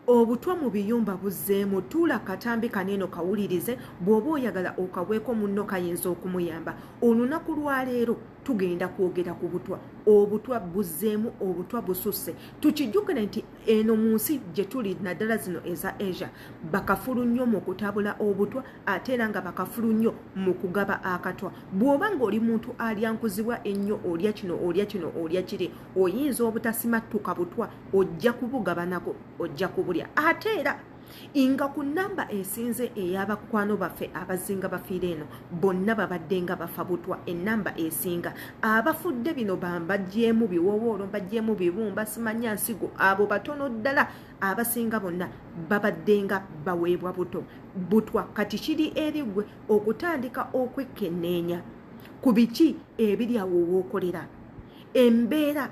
obutwa mu biyumba buzzeemu tuula katambi kaneeno kawulirize bw'oba oyagala okabweko munno kayinza okumuyamba olunaku lwaleero tugenda kwogera ku butwa obutwa buzzeemu obutwa bususse tukijjukire nti eno mu nsi gye tuli naddala zino eza asia bakafulu nnyo mu kutabula obutwa ate era nga bakafulu nnyo mu kugaba akatwa bw'oba ng'oli muntu alyankuzibwa ennyo olya kino olya kino olya kiri oyinza obutasimattuka butwa ojja kubugabanako ojja kubulya ate era nga ku namba esinze ey'abakwano baffe abazinga bafiire eno bonna babadde nga bafa butwa enamba esinga abafudde bino bambagyemu biwowoolo mbagyemu bibumba simanya nsigo abo batono ddala abasinga bonna babadde nga baweebwa buto butwa kati kiri eri gwe okutandika okwekkenneenya ku biki ebiri awo wookolera embeera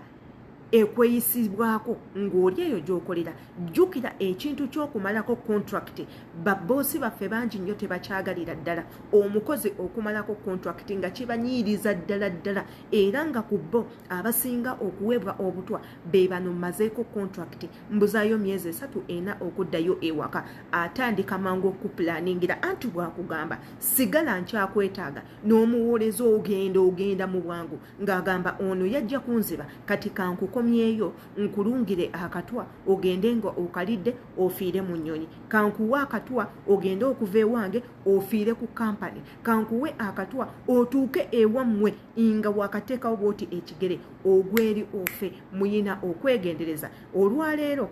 ekweyisibwako ng'oli eyo gy'okolera jjukira ekintu ky'okumalako kontrakiti baboosi baffe bangi nnyo tebakyagalira ddala omukozi okumalako kontrakiti nga kibanyiiriza ddala ddala era nga ku bo abasinga okuweebwa obutwa be bano mazeeko kontrakiti mbuzaayo myezi esatu ena okuddayo ewaka atandika mangu okukupulaningira anti bwakugamba sigala nkyakwetaaga n'omuwooleza ogenda ogenda mu bwangu ng'agamba ono yajja kunziba kati kankukomyeyo nkulungire akatwa ogende nga okalidde ofiire mu nnyonyi kankuwe akatwa ogende okuva ewange ofiire ku kampani kankuwe akatwa otuuke ewammwe nga wakateekawo bwoti ekigere ogweri ofe muyina okwegendereza olwaleero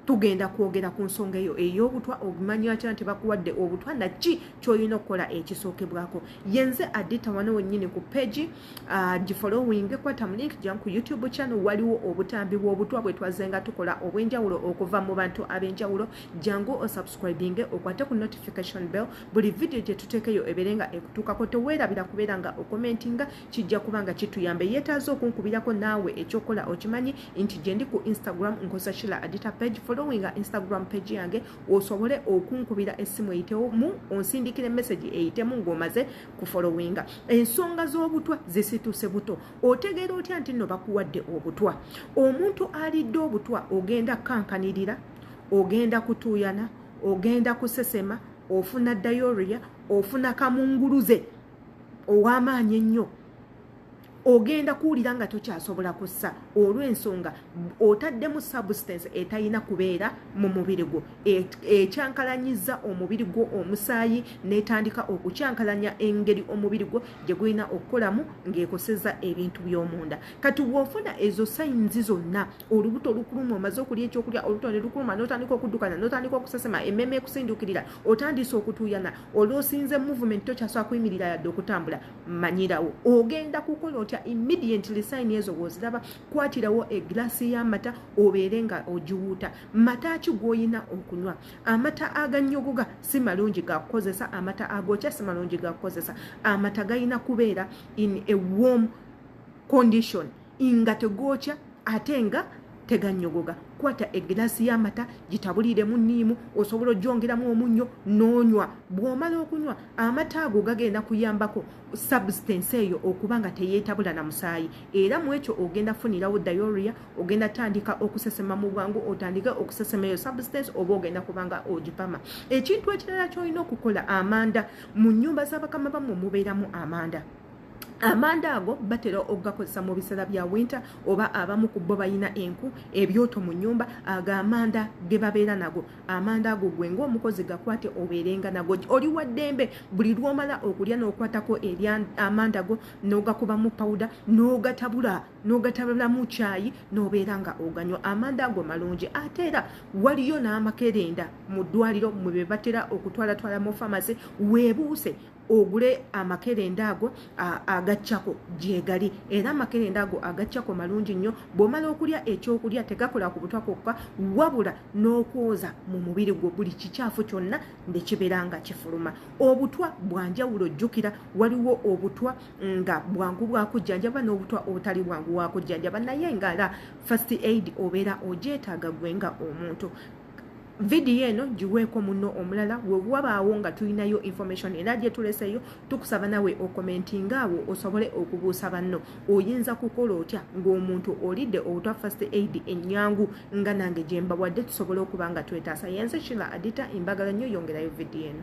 tugenda kwogera ku nsonga eyo ey'obutwa ogumanya atya nti bakuwadde obutwa naki kyolina okukola ekisookebwako yenze adita wano wennyini ku pegi ah, gifollowing kwata mu link gyamu ku youtube channel waliwo obutambi bw'obutwa bwe twazze nga tukola obw'enjawulo okuva mu bantu ab'enjawulo jangu osubscribinge okwate ku notification bell buli vidiyo gye tuteekeyo ebeere nga ekutuukako teweerabira kubeera nga okomentinga kijja kuba nga kituyamba eyeetaaza okunkubirako naawe ekyokola okimanyi nti gyendi ku instagram nkoza shila adita page followinga instagram page yange osobole okunkubira essimu eyitewo mu onsindikire message eyitemu ng'omaze ku followinga ensonga z'obutwa zisituse buto otegeera otya nti nno bakuwadde obutwa omuntu alidde obutwa ogenda kukankanirira ogenda kutuuyana ogenda kusesema ofuna diaria ofuna kamunguluze ow'amaanyi ennyo ogenda kuwulira nga tokyasobola kussa olw'ensonga otaddemu substance etalina kubeera mu mubiri gwo e, ekyankalanyiza omubiri gwo omusaayi n'etandika okukyankalanya engeri omubiri gwo gye gulina okukolamu ng'ekoseza ebintu by'omunda kati bw'ofuna ezo sayinzi zonna olubuto olukuluma omaze okulya ekyokulya olubuto ne lukuluma n'otandika okuddukana n'otandika okusesema emmeeme ekusindukirira otandise okutuuyana olwosinze movement tokyasobola kuyimirira yadde okutambula manyirawo ogenda kukola otya immediately sayini ezo woziraba kwatirawo egilasi y'amata obeere nga ogiwuuta mata ki gw'olina okunywa amata aganyogoga si malungi gakukozesa amata agokya si malungi gakukozesa amata galina kubeera in a warm condition nga tegwokya ate nga teganyogoga kwata egiraasi y'amata gitabuliiremu niimu osobola ojongeramu omunnyo n'onywa bw'omala okunywa amata ago gagenda kuyambako substance eyo okuba nga teyeetabula na musaayi era mu ekyo ogenda funirawo dioria ogenda tandika okusesema mu bwangu otandike okusesema eyo substance oba ogenda kuba nga ogipama ekintu ekirala ky'olina okukola amanda mu nnyumba z'abakama bammwe mubeeramu amanda amanda ago batera okugakozesa mu biseera bya winter oba abamu ku bo balina enku ebyoto mu nyumba ago amanda ge babeera nago amanda ago gwe ngaomukozi gakwate obeerenga nago oli wa ddembe buli lwomala okulya n'okwatako eri amanda go n'ogakubamu pawuda n'ogatabula n'ogatabulamu kyayi n'obeera nga oganywa amanda ago malungi ate era waliyo n'amakerenda mu ddwaliro mwe be batera okutwalatwala mu famasi webuuse ogule amakerenda ago agaccako gyegali era amakerenda ago agaccako malungi nnyo bw'omala okulya ekyokulya tegakola ku butwa kwokka wabula n'okwoza mu mubiri gwo buli kikyafu kyonna ne kibeera nga kifuluma obutwa bwanjawulo jjukira waliwo obutwa nga bwangu bwakujjanjaba n'obutwa obutali bwangu wakujjanjaba naye ngaala fast aid obeera ogyetaaga gwe nga omuntu vidiyo eno giweeko muno omulala wewabaawo nga tulinayo information era gyetuleseyo tukusaba nawe okomentinga awo osobole okubuusa banno oyinza kukola otya ng'omuntu olidde obutwa first aid enyangu nga nange gyembawadde tusobole okuba nga twetaasa yenze kila adita embagala nnyo yongerayo vidiyo eno